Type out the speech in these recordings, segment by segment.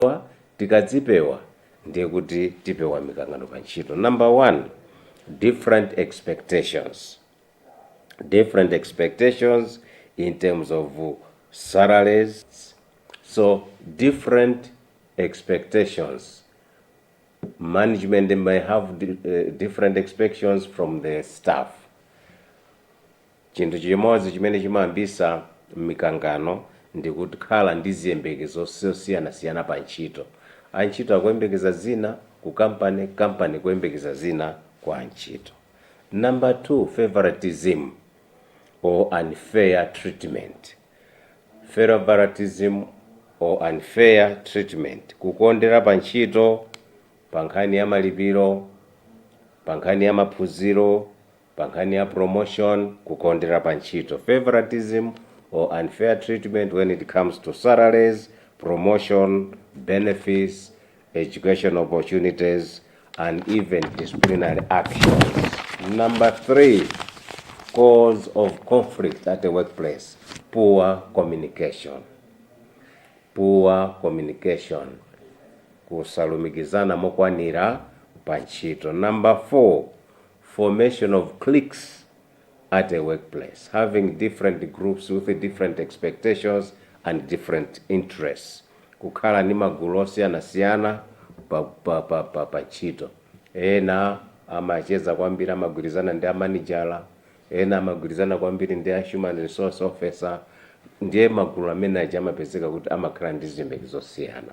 Chifukwa tikadzipewa ndiye kuti tipewa mikangano pa ntchito. Number one, different expectations. Different expectations in terms of salaries. So different expectations. Management may have di- eh, different expectations from the staff. Chinthu chimodzi chimene chimayambisa mikangano ndi kukhala ndi ziyembekezo zosiyanasiyana pa ntchito. Antchito akuyembekeza zina ku kampani, kampani ikuyembekeza zina kwa antchito. Number 2, favoritism or unfair treatment. Favoritism or unfair treatment, kukondera pa ntchito, pa nkhani ya malipiro, pa nkhani ya maphunziro. Pankhani ya promotion, kukondera pa ntchito, favouritism or unfair treatment when it comes to salaries, promotion, benefits, educational opportunities and even disciplinary actions. Number three, cause of conflict at the workplace, poor communication. Poor communication, kusalumikizana mokwanira pa ntchito. Number four, formation of cliques at a workplace having different groups with different expectations and different interests kukhala ndi magulu osiyanasiyana pa, pa, pa, pa, pa ntchito ena amacheza kwambiri amagwirizana ndi amanijala ena amagwirizana kwambiri ndi a human resource officer ndiye magulu amene aja amapezeka kuti amakhala ndi ziyembekezo zosiyana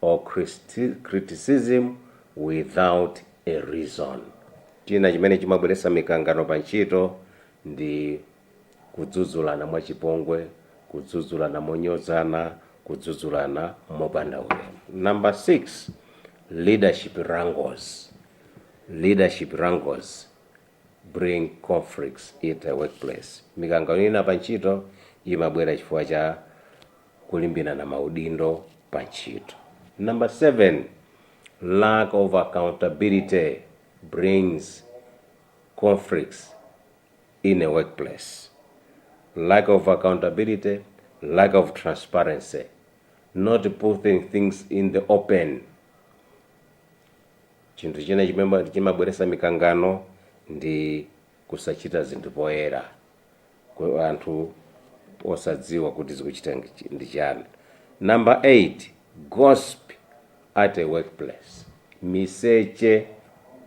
or criticism without a reason. China chimene chimabweretsa mikangano pa ntchito ndi kudzudzulana mwachipongwe, kudzudzulana monyozana, kudzudzulana mopanda ulemu. Number 6, leadership wrangles. Leadership wrangles bring conflicts in the workplace. Mikangano ina pa ntchito imabwera chifukwa cha kulimbirana maudindo pa ntchito. Number 7, Lack of accountability brings conflicts in a workplace. Lack of accountability, lack of transparency, not putting things in the open. Chinthu china chimene chimabweretsa mikangano ndi kusachita zinthu poyera. ku anthu osadziwa kuti zikuchita ndi chiyani. Number 8, Gossip at a workplace, Miseche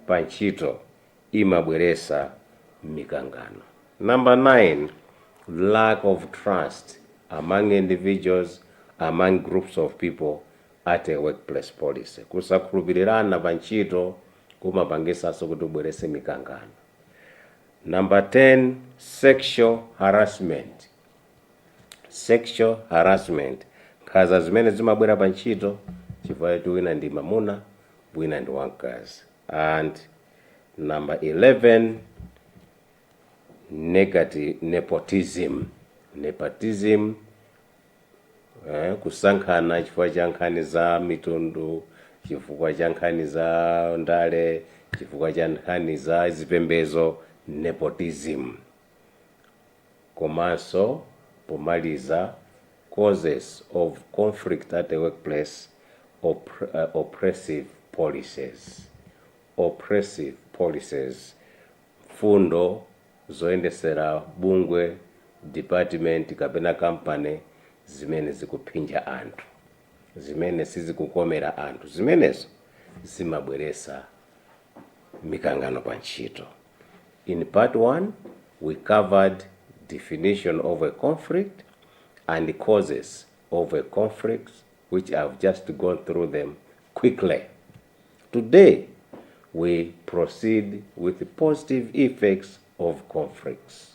pa ntchito imabweresa mikangano. Number 9, Lack of trust among individuals, among groups of people at a workplace policy, Kusakhulupirirana pa ntchito kumapangisanso kuti kubwerese mikangano. Number 10, sexual harassment. Sexual harassment. Nkhaza zimene zimabwera pa ntchito chifukwa choti wina ndi mamuna, wina ndi wamkazi. And number 11, negative nepotism. Nepotism eh, kusankhana chifukwa cha nkhani za mitundu chifukwa cha nkhani za ndale chifukwa cha nkhani za zipembezo nepotism komanso pomaliza causes of conflict at the workplace op uh, oppressive policies oppressive policies Mfundo zoyendesera bungwe, dipatimenti kapena kampani zimene zikuphinja anthu, zimene sizikukomera anthu zimenezo zimabweretsa mikangano pa ntchito. In part one, we covered definition of a conflict and causes of a conflict which I've just gone through them quickly. Today we proceed with positive effects of conflicts.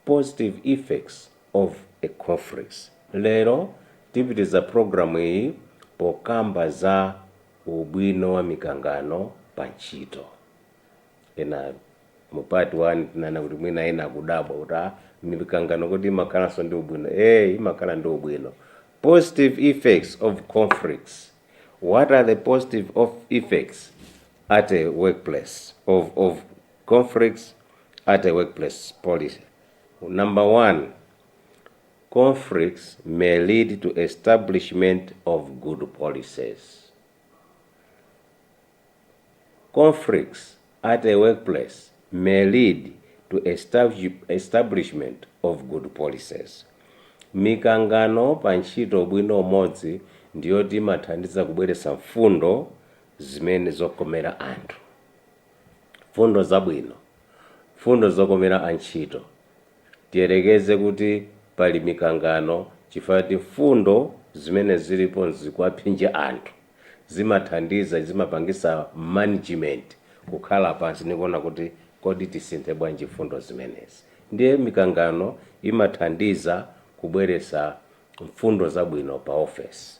Positive effects of a conflicts. Lero tipitiza programu iyi pokamba za ubwino wa mikangano pa ntchito. ena mu part 1 tinanena kuti mwina ena akudabwa kuti ah mikangano kodi imakhalanso ndi ubwino? Eeh imakhala ndi ubwino. Positive effects of conflicts, what are the positive effects at a workplace of of conflicts at a workplace policy? Number one, conflicts may lead to establishment of good policies. Conflicts at a workplace may lead to establishment of good policies. Mikangano pa ntchito ubwino umodzi ndiyoti imathandiza kubweretsa mfundo zimene zokomera anthu, mfundo zabwino, mfundo zokomera antchito Tiyerekeze kuti pali mikangano chifukwa choti mfundo zimene zilipo zikuwaphinja anthu, zimathandiza, zimapangitsa management kukhala pansi ndi kuona kuti kodi tisinthe bwanji mfundo zimenezi. Ndiye mikangano imathandiza kubweretsa mfundo zabwino pa ofesi.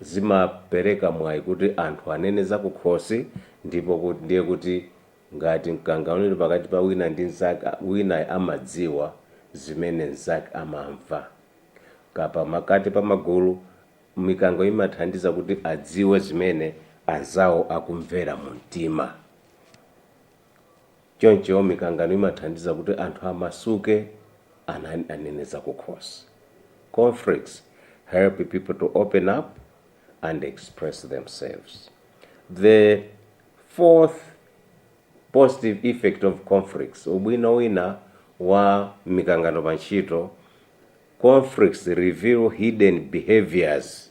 zimapereka mwayi kuti anthu anene zakukhosi ndipo kut ndiye kuti ngati mkangano uli pakati pa wina ndi mnzake wina amadziwa zimene mnzake amamva. kapena pakati pa magulu, mikangano imathandiza kuti adziwe zimene anzawo akumvera mumtima. Choncho mikangano imathandiza kuti anthu amasuke an anene zakukhosi. Conflicts help people to open up and express themselves. The fourth positive effect of conflicts, ubwino wina wa mikangano pa ntchito, conflicts reveal hidden behaviors.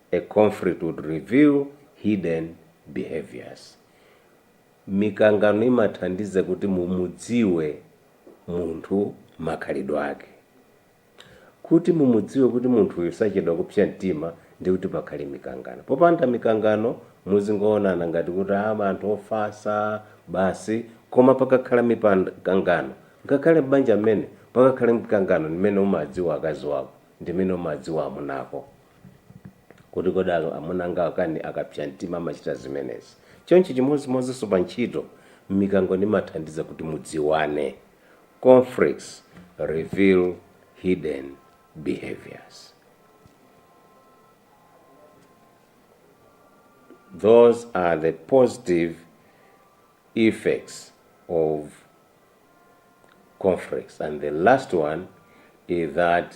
A conflict would reveal hidden behaviors. Mikangano imathandiza kuti mumudziwe munthu makhalidwe ake. Kuti mumudziwe kuti munthu uyu sachedwa kupsa mtima ndiye kuti pakhale mikangano. Popanda mikangano muzingoonana ngati kuti a anthu ofatsa basi. Koma pakakhala mikangano ngakhale m'banja mmene pakakhala mikangano ndi mmene umadziwa akazi wako, ndi mmene umadziwa amuna ako. kuti kodi aka, amuna anga akani akapsa mtima amachita zimenezi. Choncho chimodzimodzinso pa ntchito, mikangano imathandiza kuti mudziwane conflicts reveal hidden behaviors. Those are the positive effects of conflicts. And the last one is that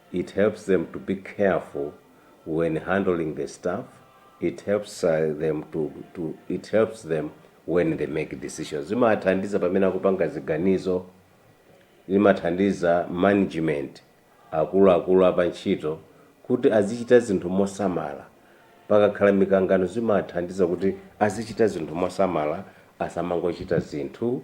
It helps them to be careful when handling the staff, it helps them to to it helps them when they make decisions zimawathandiza pamene akupanga ziganizo, zimathandiza management, akuluakulu a pa ntchito kuti azichita zinthu mosamala, pakakhala mikangano zimawathandiza kuti azichita zinthu mosamala asamangochita zinthu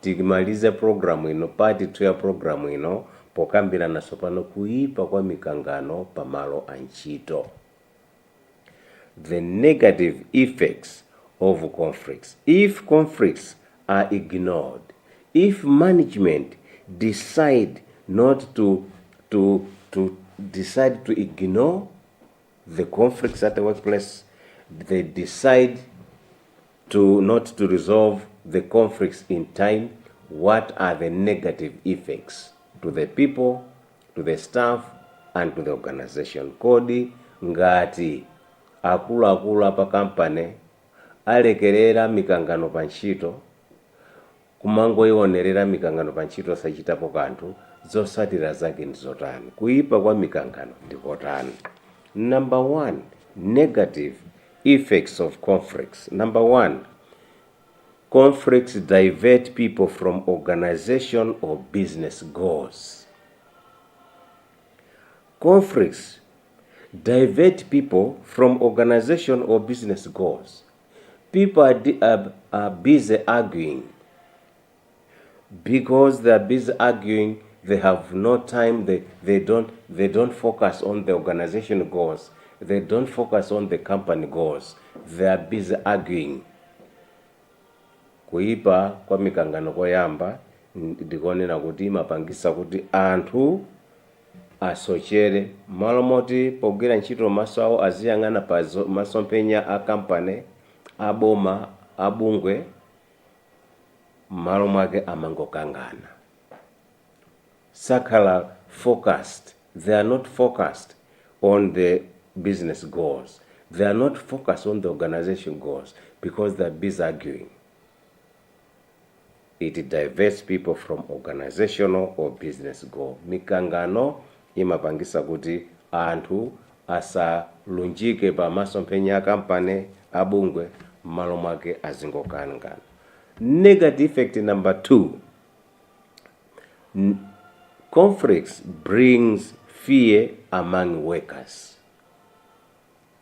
Tikmaliza program ino, part 2 ya program ino pokambirana tsopano kuipa kwa mikangano pa malo a ntchito. The negative effects of conflicts. If conflicts are ignored, if management decide not to to to decide to ignore the conflicts at the workplace, they decide to not to resolve the conflicts in time, what are the negative effects to the people, to the staff and to the organization? Kodi ngati akuluakulu a pa kampani alekerera mikangano pa ntchito, Kumangoionerera mikangano pa ntchito osachitapo kanthu, zotsatira zake ndi zotani? Kuipa kwa mikangano ndi kotani? Number 1, Negative effects of conflicts Number 1, Conflicts divert people from organization or business goals Conflicts divert people from organization or business goals. people are, di- are, are busy arguing because they are busy arguing they have no time they, they don't they don't focus on the organization goals they don't focus on the company goals they are busy arguing kuipa kwa mikangano koyamba ndikonena kuti imapangisa kuti anthu asochere. M'malo moti pogwira ntchito maso awo aziyang'ana pa masomphenya a kampani, a boma, a bungwe, m'malo mwake amangokangana. Sakhala focused, they are not focused on the business goals, they are not focused on the organization goals because they are busy arguing. It diverts people from organizational or business goal. Mikangano imapangisa kuti anthu asalunjike pa masomphenya a kampani, a bungwe, mmalo mwake azingokangana. Negative effect number 2, Conflicts brings fear among workers.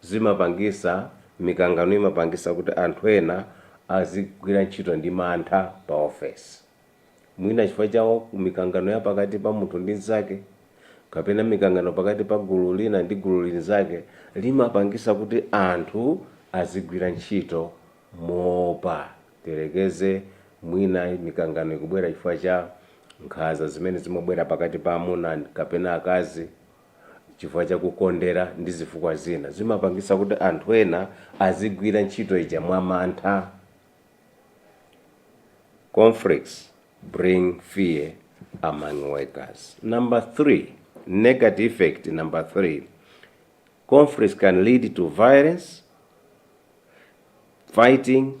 zimapangisa, mikangano imapangisa kuti anthu ena azigwira ntchito ndi mantha pa ofesi. Mwina chifukwa cha mikangano ya pakati pa munthu ndi nzake, kapena mikangano pakati pa gulu lina ndi gulu linzake, limapangisa kuti anthu azigwira ntchito moopa. Tiyerekeze mwina mikangano ikubwera chifukwa cha nkhaza zimene zimabwera pakati pa amuna kapena akazi. chifukwa cha kukondera ndi zifukwa zina, zimapangisa kuti anthu ena azigwira ntchito ija mwamantha. Conflicts bring fear among workers. Number three, negative effect number three, conflicts can lead to violence, fighting,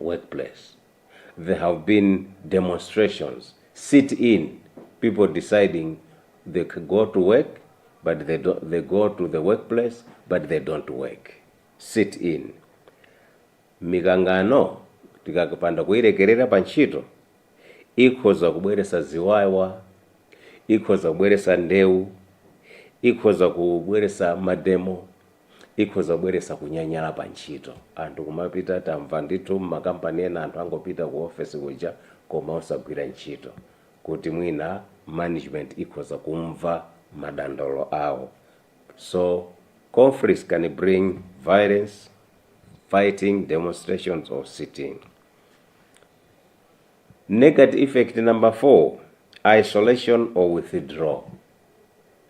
work place there have been demonstrations, sit in people deciding they can go to work but they don't, they go to the work place but they don't work, sit in. Mikangano tikapanda kuyilekerera pa ntchito ikhoza kubweresa ziwawa, ikhoza kubweresa ndewu, ikhoza kubweresa mademo. ikhoza kubweresa kunyanyala pa ntchito. Anthu kumapita, tamva ndithu m'makampani ena anthu angopita ku ofesi kuja koma osagwira ntchito kuti mwina management ikhoza kumva madandaulo awo. So conflicts can bring violence, fighting, demonstrations or sit in. Negative effect number four, isolation or withdraw.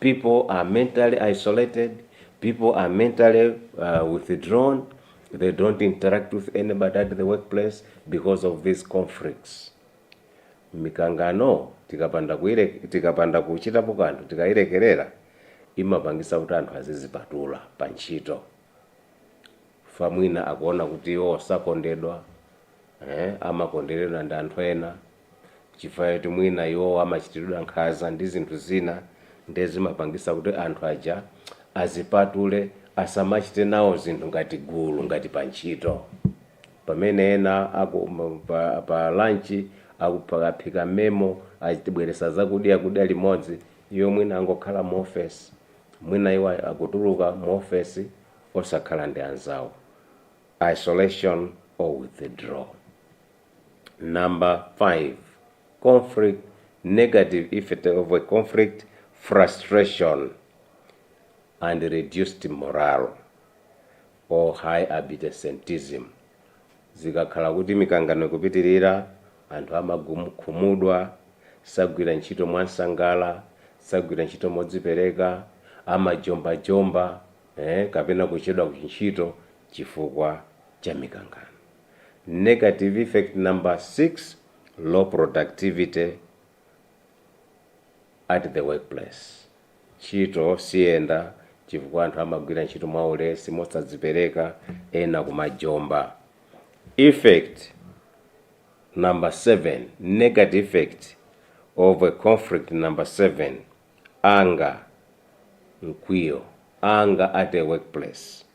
people are mentally isolated, people are mentally uh, withdrawn, they don't interact with anybody at the workplace because of these conflicts. mikangano tikapanda kuire- tikapanda kuchitapo kanthu tikairekerera imapangisa kuti anthu azizipatula pa ntchito famwina akuona kuti iwo sakondedwa eh, amakonderedwa ndi anthu ena chifukwa choti mwina iwowo amachitiridwa nkhaza ndi zinthu zina ndiye zimapangisa kuti anthu aja azipatule, asamachite nawo zinthu ngati gulu, ngati pa ntchito. Pamene ena aku, pa, pa lunch aku, pa, aphika memo, abweretsa zakudya kudya limodzi, iwo mwina angokhala mu ofesi, mwina iwo akutuluka mu ofesi osakhala ndi anzawo. Isolation or withdraw. number 5, conflict, negative effect of a conflict frustration and reduced morale or high absenteeism zikakhala kuti mikangano ikupitirira anthu amagum khumudwa sagwira ntchito mwansangala sagwira ntchito modzipereka amajombajomba eh kapena kuchedwa kuntchito chifukwa cha mikangano. Negative effect number 6, low productivity at the workplace. Ntchito siyenda chifukwa anthu amagwira ntchito mwaulesi, mosadzipereka, ena kumajomba. Effect number 7, negative effect of a conflict number 7, anger, mkwiyo, anger at a workplace.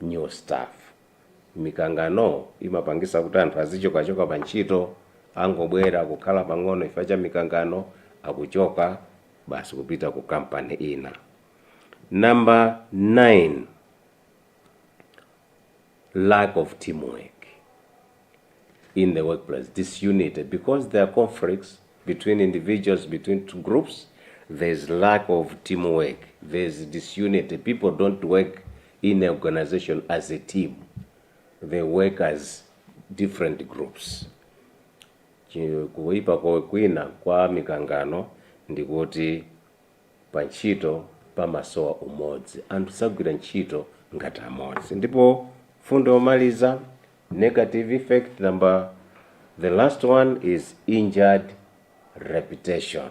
new staff. Mikangano imapangisa kuti anthu azichoka choka pa ntchito, angobwera kukhala pang'ono chifukwa cha mikangano akuchoka basi kupita ku company ina. Number 9, lack of teamwork. in the workplace, disunity, because there are conflicts between individuals, between two groups, there's lack of teamwork, there's disunity. People don't work in an organization as a team, they work as different groups. Chi- Kuipa kwina kwa mikangano ndikuti pa ntchito pamasowa umodzi anthu sagwira ntchito ngati amodzi ndipo mfundo yomaliza Negative effect number the last one is injured reputation.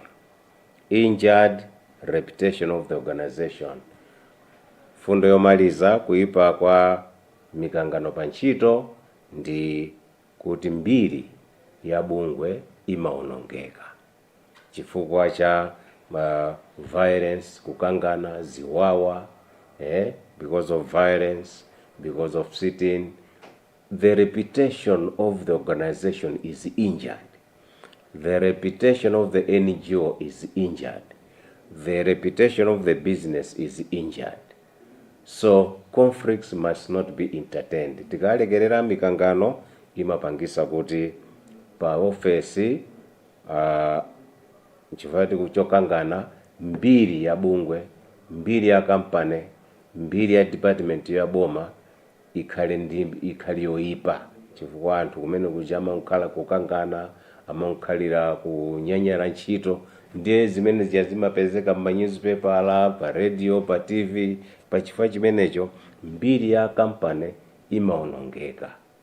Injured reputation of the organization. Fundo yomaliza kuipa kwa mikangano pa ntchito ndi kuti mbiri ya bungwe imaonongeka. chifukwa cha ma violence, kukangana, ziwawa, eeh, because of violence, because of sit-in, the reputation of the organisation is injured, the reputation of the NGO is injured, the reputation of the business is injured, so conflicts must not be entertained, tikalekerera mikangano imapangisa kuti pa office, Uh, nchifukwa tiku chokangana mbiri ya bungwe, mbiri ya company, mbiri ya department ya boma ikhale ikhale yoipa chifukwa anthu kumene kuja amangokhala kukangana, amangokhalira kunyanyala ntchito ndiye zimene zija zimapezeka mma nyuzipepala, pa radio, pa TV, pa chifukwa chimenecho mbiri ya company imaonongeka.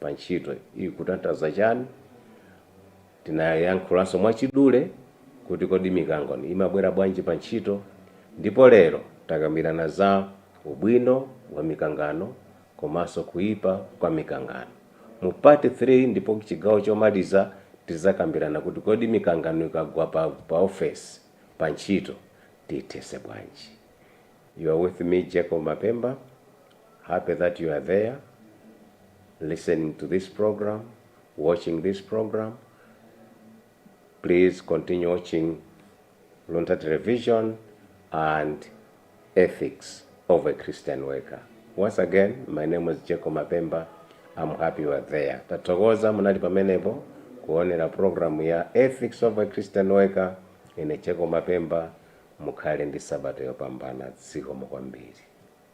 pa ntchito ikutanthauza chani. Tinayankhulanso mwachidule kuti kodi mikangano imabwera bwanji pa ntchito ndipo lero takambirana za ubwino wa mikangano komanso kuipa kwa mikangano. Mu part 3 ndipo chigawo chomaliza tizakambirana kuti kodi mikangano ikagwa pa pa ofesi, pa ntchito, tiithese bwanji. You're with me Jacob Mapemba. Happy that you are there listening to this program, watching this program. Please continue watching Luntha Television and Ethics of a Christian Worker. Once again, my name is Jacob Mapemba. I'm happy you are there. Tathokoza munali pamenepo kuonera programu ya Ethics of a Christian Worker ine Jacob Mapemba mukhale ndi sabata yopambana zikomo kwambiri.